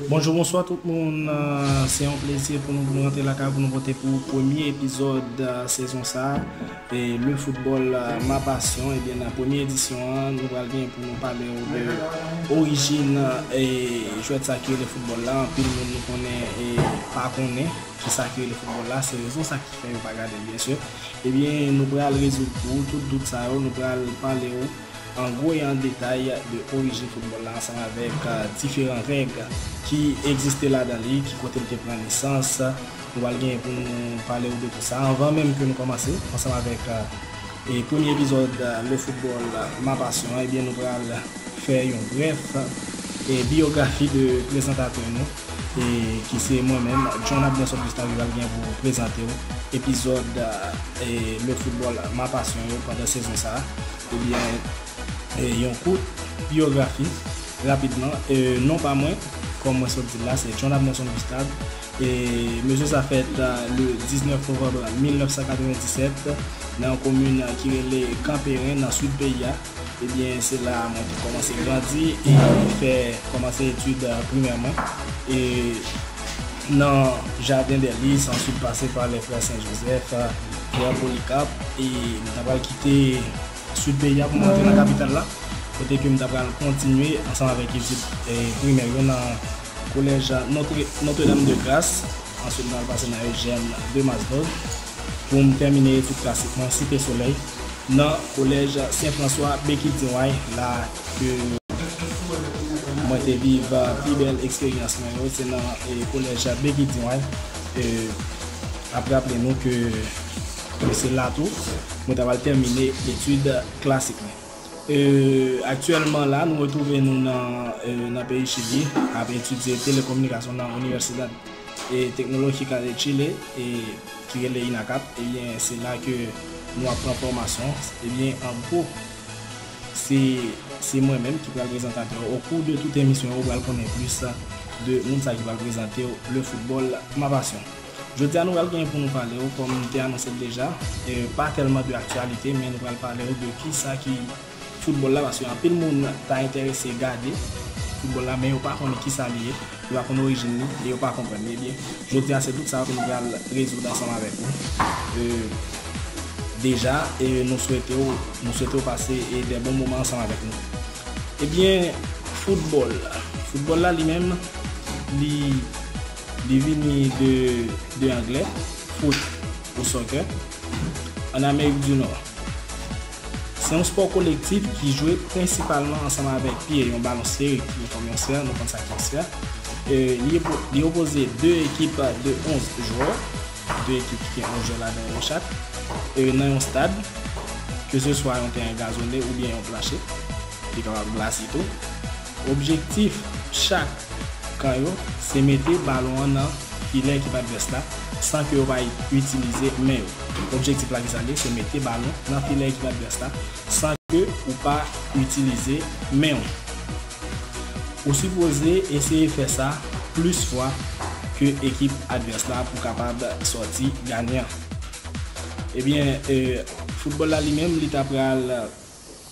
Bonjou bonswa tout moun se yon plezi pou nou rantre lakay pou nou pote pou ou premye epizòd sezon sa le football ma passion ebyen nan premye edisyon an nou pral gen pou nou pale ou de orijin jwèt sa ki rele football la anpil moun nou konnen pa konnen kisa ki rele football la se rezon sa ki fè yo pa gadel byen sûr ebyen nou pral rezoud pou ou tout dout sa yo nou pral pale ou. An gwo e an detay de orijin foutbòl la ansanm avèk diferan règ ki egziste ladan li, ki kote li te pran nesans, nou pral genyen pou nou pale ou de tout sa anvan menm ke nou kòmanse ansanm avèk premye epizòd Le Football, Ma Passion an, ebyen nou pral fè yon brèf biyografi de prezantatè nou. E ki se mwen menm, John Abner Sot Gustan Rival gen pou prezante w epizòd Le Football, Ma Passion yo pandan sezon sa a. Ebyen, yon kout biyografi rapidman, non pa mwen, kòm mwen sot di l la, se John Abner Sot Gustan. E mesye sa fèt le 19 novanm 1997 nan yon komin ki rele Kanperen nan Sid peyi a. Ebyen se la mwen te kòmanse grandi e fè kòmanse etid primè mwen e nan Jardin des Lys answit pase pa les Frères Saint Joseph, Pierre Polycarpe e m ta pral kite Sid peyi a pou m rantre nan kapital la kote ke m ta pral kontinye ansanm avèk etid primè yo nan Collège Notre Dame de Grace answit m ta pral pase nan Eugène de Masbourg. pou m tèmine etid klasik mwen, Site Solèy, nan Collège Saint François Béquidignway la ke mwen te viv pi bèl eksperyans mwen yo, se nan Collège Béquidignway. Ap raple nou ke se la tou mwen ta pral tèmine etid klasik mwen. Aktyèlman la nou retwouve nou nan peyi Chili ap etidye Telekominikasyon nan Universidad. Teknoloji kale Chile ki rele INACAP ebyen se la ke nou ap pran fòmasyon ebyen an gwo se mwen menm ki pral prezantatè ou okou de tout emisyon ou pral konnen plis de moun sa ki pral prezante ou le football ma passion jodia nou pral genyen pou nou pale ou kòm nou te anonse l deja pa tèlman de aktyalite men nou pral pale ou de kisa ki foutbòl la paske anpil moun ta enterese gade foutbòl la men yo pa konnen kisa li ye, yo pa konn orijin li e yo pa konprann li ebyen jodi a se tout sa ke nou pral rezoud ansanm avèk ou deja e nou swete w nou swete w pase dè bon moman ansanm avèk nou ebyen foutbòl foutbòl la li menm li li vini de de anglè foot ou soccer an amerik di nò. Se yon spò kolektif ki jwe prensipalman ansanm avèk pye, yon balon sferik ki gen fòm yon sè, nou konn sa ki yon sè. Li opoze 2 ekip de 11 jwè, 2 ekip ki gen 11 jwè ladan yo chak, nan yon stad, keseswa yon teren gazone oubyen yon planche, li kapab glase tou. Objektif chak kan yo se mete balon an nan filè ekip advès la san ke yo pa itilize men yo. Objektif la ki sa li ye? Se mete balon nan filè ekip advès la san ke ou pa itilize men ou. Ou sipoze eseye fè sa plis fwa ke ekip advès la pou kapab sòti ganyan. Ebyen foutbòl la li menm li ta pral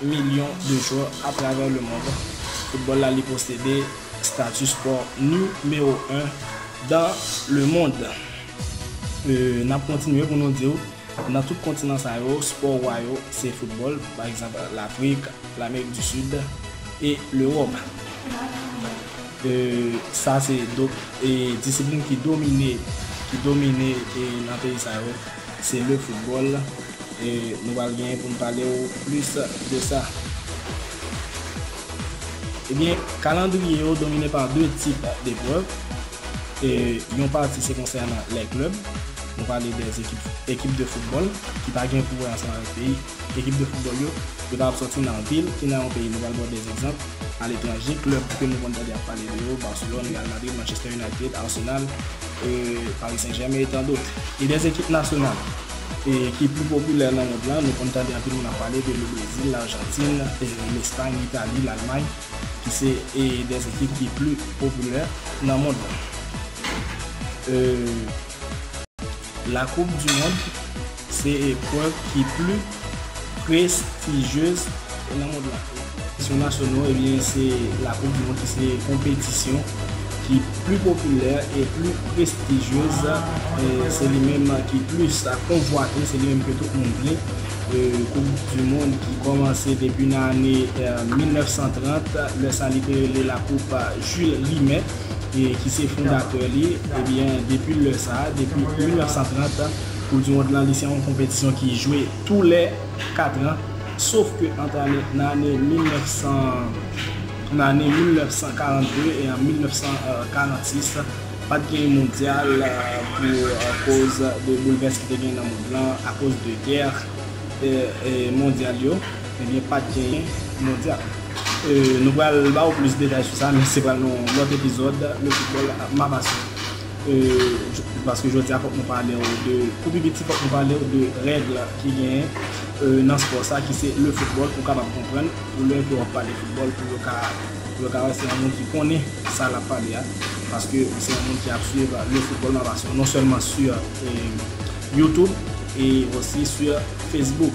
milyon de jwè atravè lemond foutbòl la li posede stati spò nimewo 1 dan lemond e nap kontinye pou nou diw nan tout kontinan sa yo spò wa yo se foutbòl pa egzanp lafrik lamerik di sid e lewòp e sa se disiplin ki domine ki domine nan peyi sa yo. Se le football e nou pral genyen pou nou pale ou plis de sa. Ebyen, kalandriye yo domine pa 2 tip deprèv e yon pati se konsènan lè klèb, nou pale de ekip de football ki pa gen pou wè ansanm avèk peyi. Ekip de foutbòl yo, yo ta ap sòti nan vil ki nan yon peyi nou pral ba w de egzanp aletranje, klèb ke nou konn tande ap pale de yo, Barcelone, Real Madrid, Manchester United, Arsenal, Paris Saint Germain et tant d'autres. E de ekip nasyonal ki pi popilè nan mond lan, nou konn tande anpil moun ap pale de Le Brésil, L'Argentine, L'Espagne, L'Italie, L'Allemagne ki se de ekip ki pi popilè nan mond lan. La koup di mond se eprèv ki pli prestijyez nan mond la. Sou nasyonal ebyen se la koup di mond ki se konpetisyon ki pli popilè e pli prestijyez se li menm ki plis konvwate se li menm ke tout moun vle koup di mond ki kòmanse depi nan ane 1930 lè sa li te rele la koup Jules Rimet. ki se fondatè li, ebyen depi lè sa, depi 1930, Koup di Mond lan li se yon konpetisyon ki jwe tou lè 4 an, sof ke ant ane, nan ane 1900, nan ane 1942 e an 1946, pat gen yon mondyal pou koz de boulvès ki te gen nan mond lan akoz de gè mondyal yo. Ebyen pat genyen mondyal. Nou pral ba ou plis detay sou sa men se pral nan yon lòt epizòd Le Football ak Mabassi. Paske jodi a fòk nou pale ou de, pou pi piti fòk nou pale ou de règ ki genyen nan spò sa ki se Le Football pou w kapab konprann pou lè ke w ap pale football pou yo ka pou yo ka wè se yon moun ki konnen sa l ap pale a paske ou se yon moun ki ap swiv Le Football Mabassi non sèlman sur Youtube e osi sur Facebook.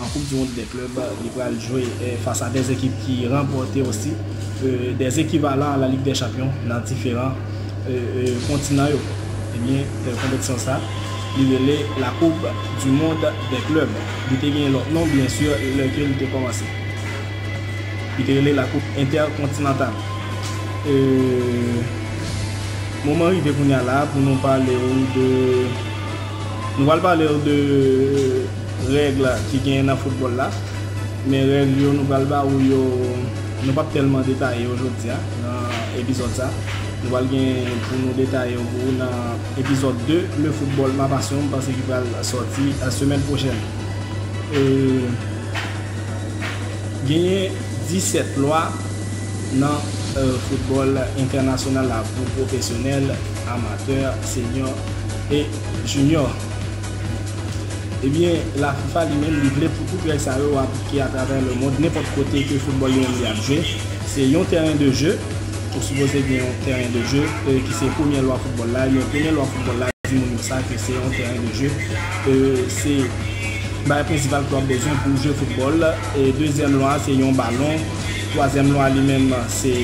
An koup du mond dè klèb, li pral jwe fas a 2 ekip ki ranpòte osi 2 ekivalan la lig dè chanpyon nan diferan kontinan yo. Ebyen konpetisyon sa li rele la koup du mond dè klèb. Li te gen lòt non byen sur lè ke li te kòmanse. Li te rele la koup entèkontinantal. Moman rive kounya la pou nou pale ou de. Nou pral palew de règ ki genyen nan foutbòl la, men règ yo nou pral ba ou yo nou pap tèlman detaye yo jodia nan epizòd sa, nou pral gen pou nou detaye yo pou ou nan epizòd 2 le football ma passion m panse ki pral sòti semèn pwochèn. Genyen 17 lwa nan football entènasyonal la pou pwofesyonèl. amatè, senyò e jinyò. Ebyen, la fifa li menm li vle pou tout règ sa yo aplike atravè lemond nenpòt kote ke foutbòl li menm li ap jwe. Se yon tèren de je, ou sipoze gen yon tèren de je ki se premyè lwa foutbòl la, ebyen premyè lwa foutbòl la di moun yo sa ke se yon tèren de je, se bagay prensipal ke wap bezwen pou jwe foutbòl, dezyèm lwa se yon balon, twazyèm lwa li menm se.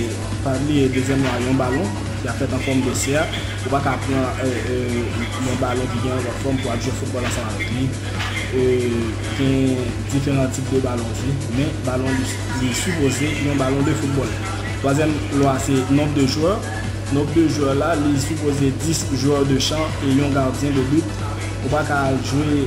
Pa bliye dezyèm lan yon balon ki ap fèt an fòm de sèk, ou pa ka pran yon balon ki gen yon lòt fòm pou ap jwe foutbòl ansanm avèk li. Gen diferan tip de balon tou, men balon li sipoze yon balon de foutbòl. Twazyèm lwa se nonb de jwè, nonb de jwè la li sipoze 10 jwè de chan e yon gardyen de but, ou pa ka al jwe.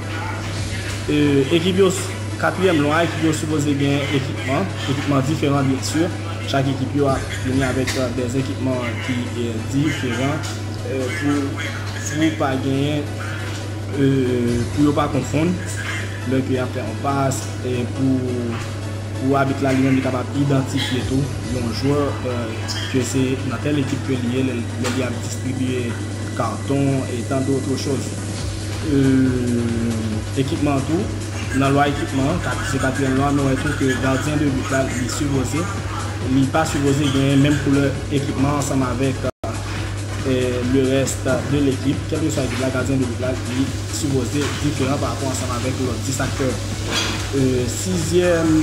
Ekip yo, Katriyèm lwa, ekip yo sipoze gen ekipman, ekipman diferan byen si, chak ekip yo ap vini avèk dè ekipman ki diferan pou pa genyen, pou yo pa konfonn lè ke yap fè yon pas, pou abit la li menm li kapab idantifye tou yon jwè ke se nan tèl ekip ke li ye lè li ap distribye karton e tandotro choz. Ekipman an tou, nan lwa ekipman an, kat se katriyèm lwa, nou wè tou ke gadyen de but la, li sipoze, li pa sipoze genyen menm koulè ekipman ansanm avèk le rès de lekip, kèlkeswa ekip la, gadyen de but la, li sipoze diferan pa rapò ansanm avèk lòt 10 aktè yo. Sizyèm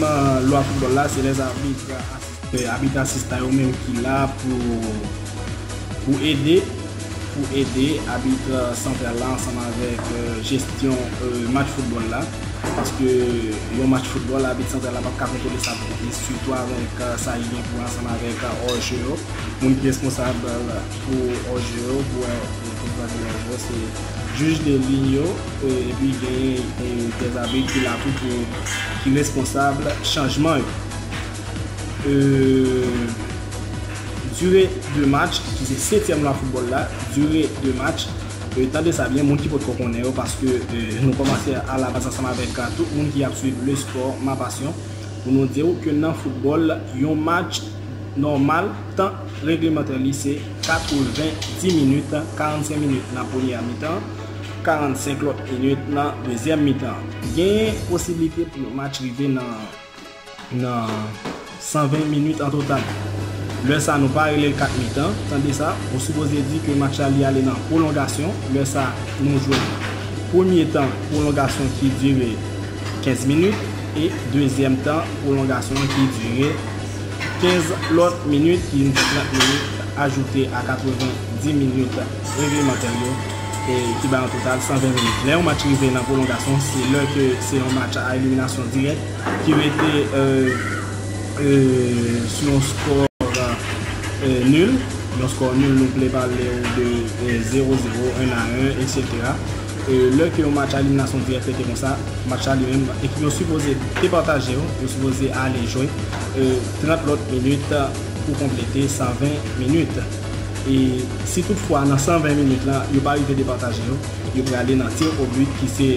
lwa foutbòl la, se lè zabit asiste. Se abit asistan yo menm ki la pou ede pou ede abit santral la ansanm avèk jesyon match foutbòl la. Paske yon match foutbòl abit santral la pap ka kontwole sa tout plis sitou avèk sa li gen pou wè ansanm avèk òje yo. Moun ki responsab pou òje yo pou wè pou sa ki nan òje yo se jij de liy yo epi genyen de zabit ki la tou pou ki responsab chanjman yo. Dure de match, ki se setyèm lan foutbòl la, dure de match, tande sa byen moun ki potko konnen yo paske nou kòmanse a la baz ansanm avèk tout moun ki ap swiv le spò ma pasyon pou nou di ou ke nan foutbòl yon match nòmal tan reglemantè li se 90 minit, 45 minit nan premyè mitan, 45 lòt minit nan dezyèm mitan. Genyen posiblite pou yon match rive nan. Nan 120 minit an total. Lè sa nou pa rele l 4 mitan, tande sa, ou sipoze di ke match la li ale nan pwolongasyon, lè sa nou jwe premye tan pwolongasyon ki dire 15 minit e dezyèm tan pwolongasyon an ki dire 15 lòt minit, ki vin fè 30 minit ajoute a 90 minit. reglementè yo e ki bay yon total 120 minit. Lè yon match rive nan pwolongasyon, se lè ke se yon match a eliminasyon dirèk ki rete sou yon skò nul, yon skò nul nou vle pale ou de 0, 0, 1 a 1, eksetera. Lè ke yon match a eliminasyon dirèk rete konsa, match la li menm, ekip yo sipoze departaje yo, yo sipoze ale jwe 30 lòt minit pou konplete 120 minit. E si tout fwa nan 120 minit la yo pa rive depataje yo, yo prale nan tir o but ki se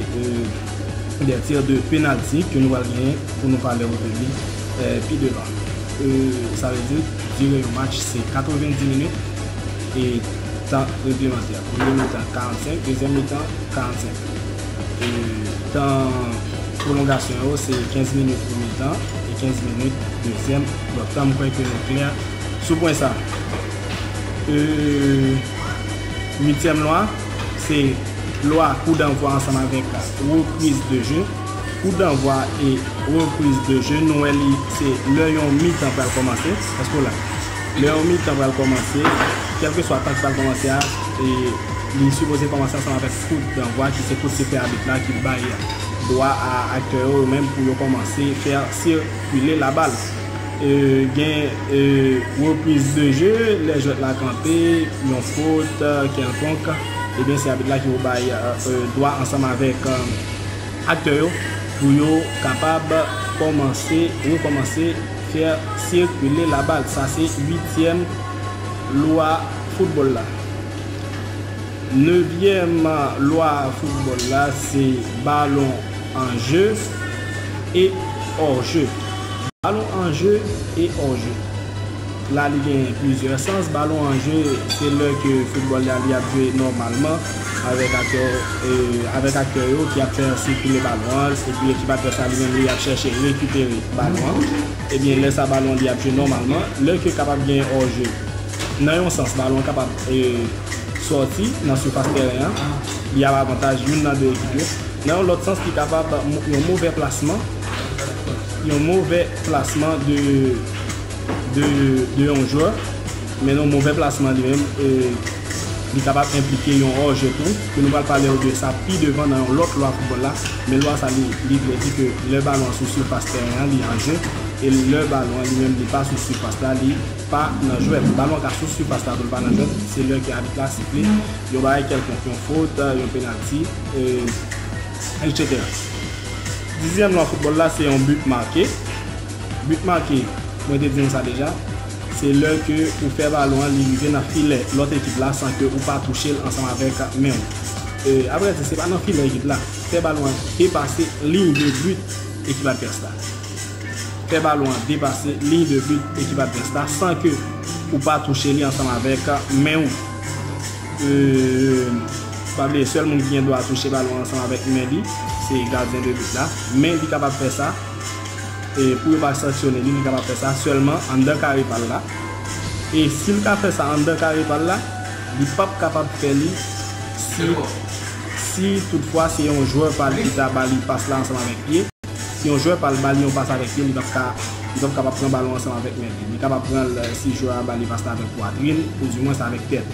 des tirs de penalty ke nou pral genyen pou nou pale w de li pi devan. Sa vle di dire yon match se 90 minit e tan reglemantè. Premye mitan 45, dezyèm mitan 45. E tan pwolongasyon yo se 15 minit premye tan e 15 minit dezyèm. Donk tan m kwè ke nou klè. Sou pwen sa, uityèm lwa, se lwa kou danvwa ansanm avèk repriz de je. Kou danvwa e repriz de je, nou wè li se lè yon mitan pral kòmanse. Èske w la? Lè yon mitan pral kòmanse, kèlkeswa tan ki pral kòmanse a, li sipoze kòmanse ansanm avèk kout danvwa ki se kout sifè abit la ki bay dwa a aktè yo yo menm pou yo kòmanse fè sikile labal. Gen repriz de je, lè jwèt la kanpe, yon fot kèlkonk, ebyen se abit la ki pou bay dwa ansanm avèk aktè yo pou yo kapab kòmanse, rekòmanse, faire circuler la balle. Sa se uityèm lwa foutbòl la. Nevyèm lwa foutbòl la se balon. En jeu et hors jeu Balon an je e òr je La li gen plizyè sans Balon an je se lè ke foutbòl la li ap jwe nòmalman avèk aktè avèk aktè yo ki ap fè yon sikile balon an epi ekip advès la li menm li ap chèche rekipere balon an ebyen lè sa balon li ap jwe nòmalman lè ke kapab gen òr je nan yon sans balon an kapab sòti nan sifas tèren an li ap avantaj youn nan 2 ekip yo. Nan yon lòt sans li kapab yon movè plasman, yon movè plasman de de yon jwè, men nan yon movè plasman li menm li kapab enplike yon òje tou, ke nou pral palew de sa pi devan nan yon lòt lwa foutbòl la, men lwa sa li vle di ke lè balon an sou sifas tèren an li an jwe, e lè balon an li menm li pa sou sifas la li pa nan jwèt. Balon an ka sou sifas la tou li pa nan jwèt, se lè ke abit la sifle yon bagay kèlkonk, yon fot, yon penalti. etc. Dizyèm lwa foutbòl la se yon but marqué. But marqué, mwen te di nou sa deja, se lè ke ou fè balon an li rive nan filè lòt ekip la san ke ou pa touche l ansanm avèk men w. Avrè di, se pa nan filè ekip la. Fè balon an depase liy de but ekip advès la. Fè balon an depase liy de but ekip advès la san ke ou pa touche li ansanm avèk men w. Pa bliye sèl moun ki gen dwa touche balon ansanm avèk men li se gadyen de but la. Men li kapab fè sa e pou yo pa sanksyone li, li kapab fè sa sèlman anndan kare pa l la. E si l ka fè sa anndan kare pa l la, li pap kapab fè li si si toutfwa se yon jwè pa l ki ta ba li pas la ansanm avèk pye. Si yon jwè pa l ba li yon pas avèk pye l, li pap ka, li pap kapab pran balon ansanm avèk men li. Li kapab pran l si jwè a ba li pas la avèk pwatrin, oudimwens avèk tèt.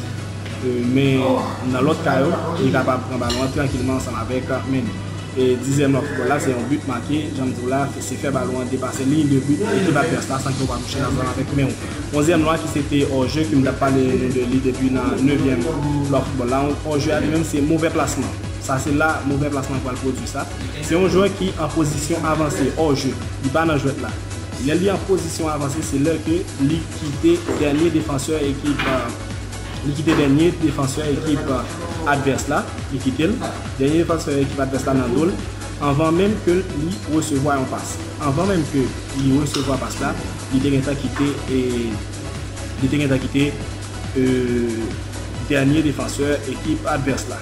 Men, nan lòt ka yo, li kapab pran balon an trankilman ansanm avèk men li. E dizyèm lwa foutbòl la, se yon but make, jan m di w la, se fè balon an depase liy de but ekip advès la san ke w pa touche l ansanm avèk men w. Onzyèm lwa ki se te òje ke m t ap pale nou de li depi nan nevyèm lwa foutbòl la, òje a li menm se movè plasman. Sa se la movè plasman pral pwodui sa. Se yon jwè ki an pozisyon avanse, hors jeu. Li pa nan jwèt la. Lè li an pozisyon avanse se lè ke li kite dènye defansè ekip li kite dènye defansè ekip advès la, li kite l, dènye defansè ekip advès la nan do l anvan menm ke li resevwa yon pas. Anvan menm ke li resevwa pas la, li te gentan kite li te gentan kite. ke dènye defansè ekip advès la,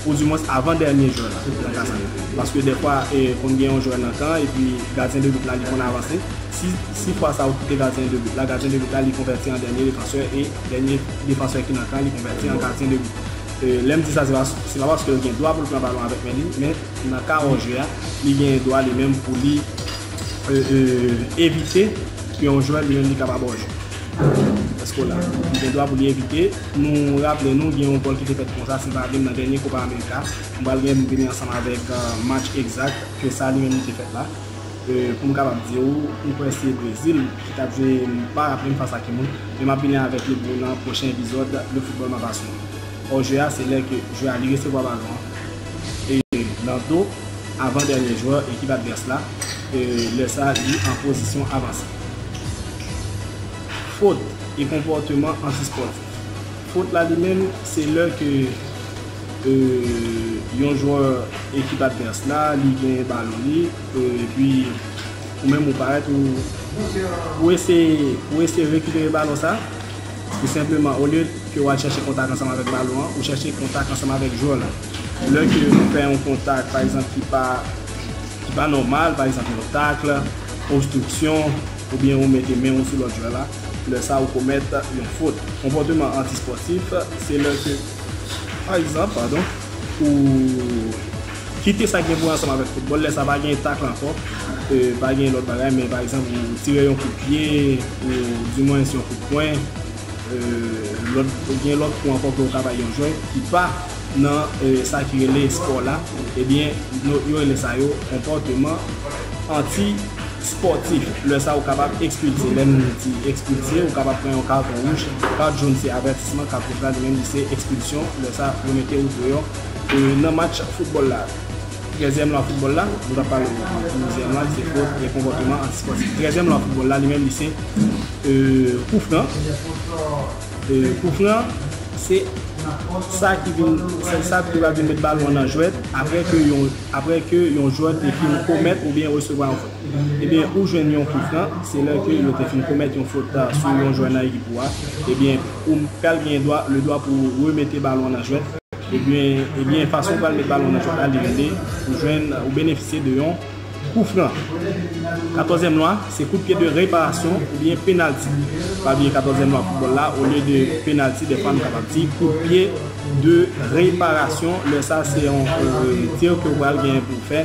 ou di mwens avan dènye jwè la nan ka sa. Paske dèfwa konn gen yon jwè nan kan an epi gadyen de but la li konn avanse, si fwa sa ou kite gadyen de but la, gadyen de but la li konvèti an dènye defansè e dènye defansè ki nan kan an li konvèti an gadyen de but. Lè m di sa se pa paske l gen dwa pou l pran balon avèk men li, men nan ka òje a li gen dwa li menm pou li evite yon jwè li menm li kapab òje. Èske w la? Ou gen dwa pou li evite. Nou raple nou gen yon gòl ki te fèt konsa, si m pa vin nan dènye Copa America. M pral gen pou m vini ansanm avèk match egzak ke sa li menm li te fèt la. Pou m kapab di ou, m kwè se Brezil ki t ap jwe, m pa raple m fas a ki moun. Men m ap vini avèk li pou ou nan pwochen epizòd Le Football M'a Passion. Hors jeu a se lè ke jwè a li resevwa balon an nan do avan dènye jwè ekip advès la, lè sa li an pozisyon avanse. Fot e konpòteman anti-spòtif. Fot la li menm se lè ke yon jwè ekip advès la li genyen balon li epi ou menm ou parèt ou eseye rekipere balon sa ou senpleman olye ke wal chèche kontak ansanm avèk balon an ou chèche kontak ansanm avèk jwè la lè ke ou fè yon kontak pa egzanp ki pa ki pa nòmal, pa egzanp yon takl, obstriksyon, oubyen ou mete men ou sou lòt jwè la, lè sa ou komèt yon fot. Konpòteman anti-spòtif se lè ke pa egzanp, padon, ou kite sa ki gen pou wè ansanm avèk foutbòl, lè sa pa gen takl ankò, pa gen lòt bagay men pa egzanp ou tire yon kout pye ou di mwens yon kout pwen, gen lòt kou ankò ke ou ka bay yon jwè ki pa. nan sa ki rele espò la, ebyen yo rele sa yo konpòteman anti spòtif. Lè sa ou kapab ekspilse, lè nou di ekspilse ou kapab pran yon katon wouj, kat joun se avètisman, kat wouj la li menm li se ekspilsyon, lè sa yo mete ou deyò nan match foutbòl la. Trèzyèm lwa foutbòl la, nou tap pale douzyèm la se fot e konpòteman anti spòtif. Trèzyèm lwa foutbòl la li menm li se koufran. Kout lan, se sa ki vin, sèl sa ki va vin met balon an nan jwèt apre ke yon, apre ke yon jwè te fin komèt oubyen resevwa yon fot. Ebyen, ou jwenn yon kout lan, se lè ke yo te fin komèt yon fot sou yon jwè nan ekip ou a, ebyen, ou pral gen dwa, le dwa pou ou remete balon an nan jwèt, ebyen, ebyen fason ou pral met balon an nan jwèt la li rele, ou jwenn, ou benefisye de yon. Kou fran, katòzyèm lwa, se kout pye de reparasyon oubyen penalti. Pa bliye katòzyèm lwa foutbòl la, olye de penalti dèfwa nou kapab di kout pye de reparasyon, lè sa se yon tir ke ou pral gen pou fè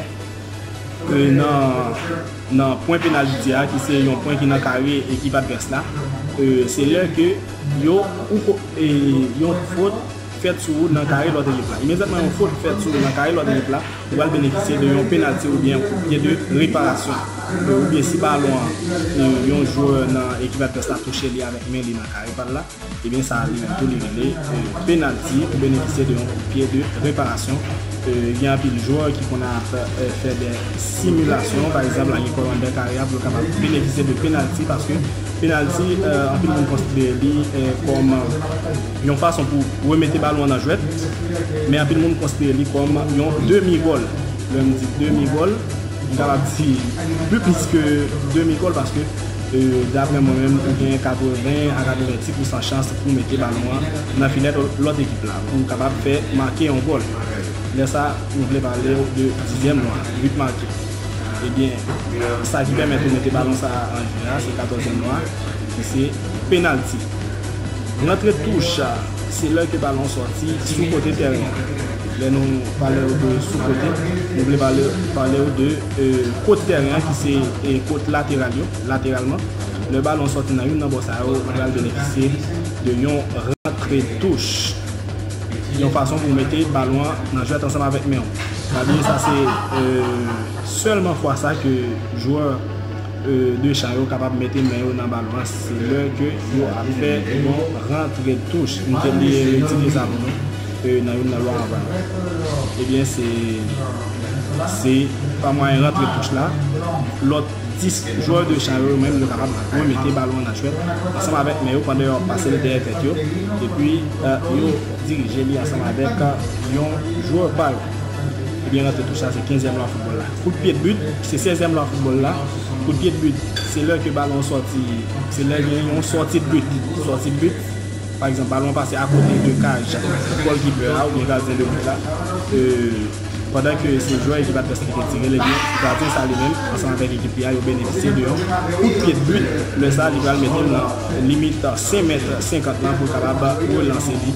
nan pwen penaliti a ki se yon pwen ki nan kare ekip advès la, se lè ke yon fot fèt sou ou nan kare lòt ekip la. Imediatman yon fot fèt sou ou nan kare lòt ekip la, Li pral benefisye de yon penalti oubyen yon kout pye de reparasyon, oubyen si balon an, yon jwè nan ekip advès la touche li avèk men li nan kare pa l la, ebyen sa li menm tou li rele penalti ou benefisye de yon kout pye de reparasyon. Gen anpil jwè ki konnen ap fè dè similasyon, pa egzanp la gen kò anndan kare a pou l kapab benefisye de penalti paske penalti anpil moun konsidere li kòm. Yon fason pou remete balon an nan jwèt, men anpil moun konsidere li kòm yon demi gòl. Lè m di demi gòl, m kapab di pi plis ke demi gòl paske daprè mwen menm ou gen 80 a 90 pousan chans pou mete balon an nan filè lòt ekip la pou w kapab fè make yon gòl. Lè sa nou vle pale w de dizyèm lwa, but marqué. Ebyen sa ki pèmèt ou mete balon sa a an jwe a se katòzyèm lwa ki se penalty. Rantre touch a se lè ke balon sòti sou kote tèren an. Lè nou pale ou de sou kote, nou vle pale ou de kot tèren an ki se kot lateral yo, lateralman. Lè balon sòti nan youn nan bò sa yo, ou pral benefisye de yon rantre touch. Yon fason pou mete balon an nan jwèt ansanm avèk men ou. Pa bliye sa se sèlman fwa sa ke jwè. 2 cha yo kapab mete men yo nan balon an se lè ke yo ap fè yon rantre touch, m te bliye retire sa pou nou nan youn nan lwa anvan yo, ebyen se se pa mwayen rantre touch la lòt 10 jwè 2 cha yo menm yo kapab tou mete balon an nan chwèt ansanm avèk men yo pandan yo ap pase li dèyè tèt yo epi yo dirije li ansanm avèk yon jwè pa yo. Ebyen rantre tou sa se kenzyèm lwa foutbòl la. Kout pye dbut se sèzyèm lwa foutbòl la. Kout pye dbut se lè ke balon an sòti, se lè gen yon sòti dbut. Sòti dbut, pa egzanp balon an pase akote de kaj gòlkipè a oubyen gadyen de but la, pandan ke se jwè ekip advès ki te tirel ebyen gadyen sa li menm ansanm avèk ekip li a yo benefisye de yon kout pye dbut, lè sa li pral metel nan limit 5 mèt 50 lan pou l kapab relanse li.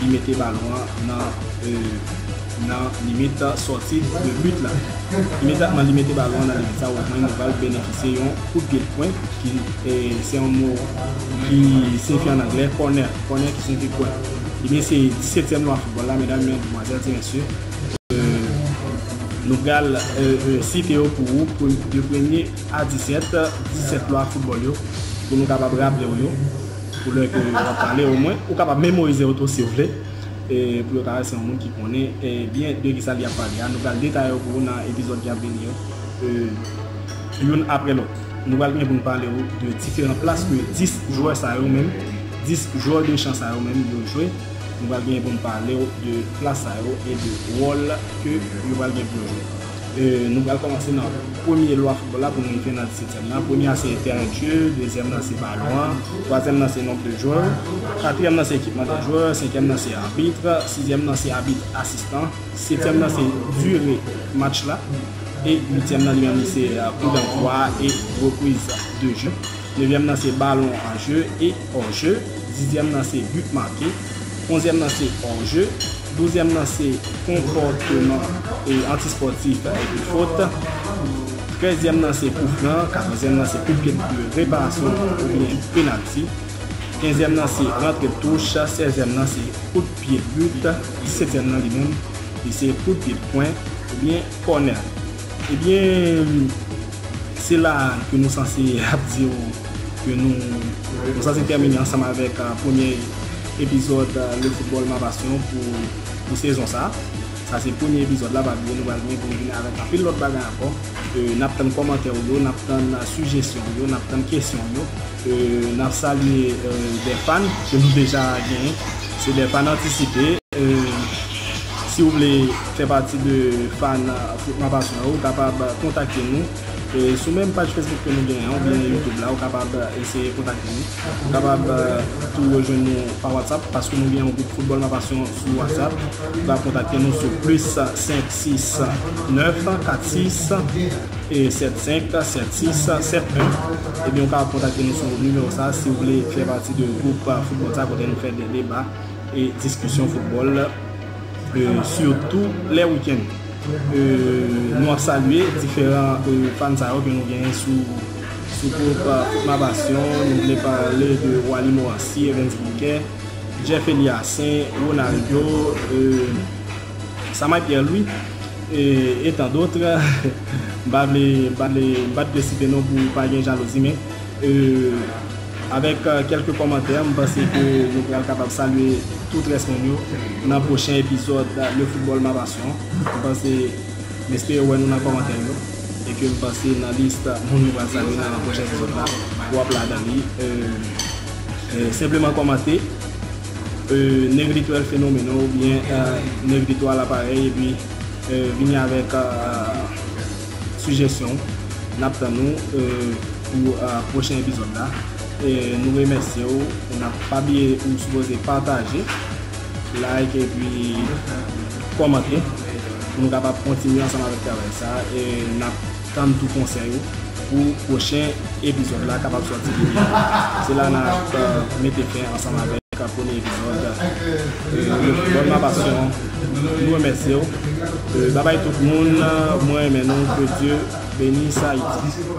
Li mete balon an nan nan limit sòti de but la. Imedyatman li mete balon an nan limit sa Rosemary Noval benefisye yon kout pye pwen ki se yon mo ki siyifi an anglè kònè, kònè ki siyifi pwen. Ebyen se disetyèm lwa foutbòl la medam, medmwazèl, ti mesye. Nou pral site yo pou ou de premye a disèt, disèt lwa foutbòl yo pou nou kapab raple ou yo. Pou lè ke yo ap pale o mwen ou kapab memorize yo tou si ou vle e pou yo ta wè se yon moun ki konnen byen de kisa li ap pale a. Nou pral detaye yo pou ou nan epizòd ki ap vini yo youn apre lòt. Nou pral gen pou nou pale ou de diferan plas ke 10 jwè sa yo menm, 10 jwè de chan sa yo menm yo jwe. Nou pral gen pou nou pale ou de plas sa yo e de wòl ke yo pral gen pou yo jwe. Nou pral kòmanse nan premye lwa foutbòl la pou n rive nan disetièm nan. Premye a se tèren de jeu, dezyèm nan se balon an, twazyèm nan se nomb de jwè, katriyèm nan se ekipman de jwè, senkyèm nan se arbitr, sizyèm nan se abit asistan, setyèm nan se dire match la e uityèm nan li menm li se kou dantwa e repriz de jeu. Nevyèm nan se ballon en jeu et hors jeu, dizyèm nan se but marqué, onzyèm nan se hors jeu, douzyèm nan se konpòteman antispòtif epi fot, trèzyèm nan se kou fran, katòzyèm nan se kout pye de reparasyon oubyen penalti, kenzyèm nan se rantre de touch, sèzyèm nan se kout pye de but, disetyèm nan li menm li se kout pye de kwen oubyen kònè. Ebyen. Se la a ke nou sanse ap di w ke nou sanse tèmine ansanm avèk premye epizòd Le Football Ma Passion pou sezon sa. Sa se premye epizòd la pa bliye nou pral gen pou nou vini avèk anpil lòt bagay ankò. N ap tann kòmantè w yo, n ap tann sijesyon w yo, n ap tann kesyon w yo. N ap salye dè fan ke nou deja genyen. Se dè fan antisipe. Si ou vle fè pati de fan Foutman Pasyon yo, ou kapab kontakte nou sou menm paj Facebook ke nou genyen an oubyen YouTube la. Ou kapab eseye kontakte nou. Ou kapab tou rejwenn nou pa WhatsApp paske nou gen yon gwoup Foutbòl Ma Pasyon sou WhatsApp. Ou ka kontakte nou sou plis 5 6 9 4 6 75 76 71 ebyen ou ka kontakte nou sou nimewo sa si ou vle fè pati de gwoup foutbòl sa kote nou fè de deba e diskisyon foutbòl sitou lè wikenn nou ap salye diferan fan sa yo ke nou genyen sou gwoup foutma pasyon nou vle pale de wali moransi evens bouke jeff eliasen ronaldo eee Samay Pierre Louis et tant d'autres m pa vle m pa vle site non pou pa gen jalouzi men avèk kèlke kòmantè m panse ke nou pral kapab salye tout rès moun yo nan pwochen epizòd Le Football Ma Passion m panse m espere wè nou nan kòmantè yo e ke m panse nan list moun nou pral salye nan pwochen epizòd la w ap ladan li senpleman kòmante. Nèg Litwèl Fenomeno oubyen Nèg Litwal Aparèy epi vini avèk sijesyon w. N ap tann ou pou pwochen epizòd la. Nou remèsye w. Pa bliye ou sipoze pataje, like epi kòmante pou nou kapab kontinye ansanm avèk travay sa a. Tann tou konsèy ou pou pwochen epizòd la kapab sòti pi byen. Se la nan ap mete fen ansanm avèk premye epizòd Reflechons ma passion Nou remèsye w Babay tout moun mwen renmen nou Que Dieu benisse Haïti.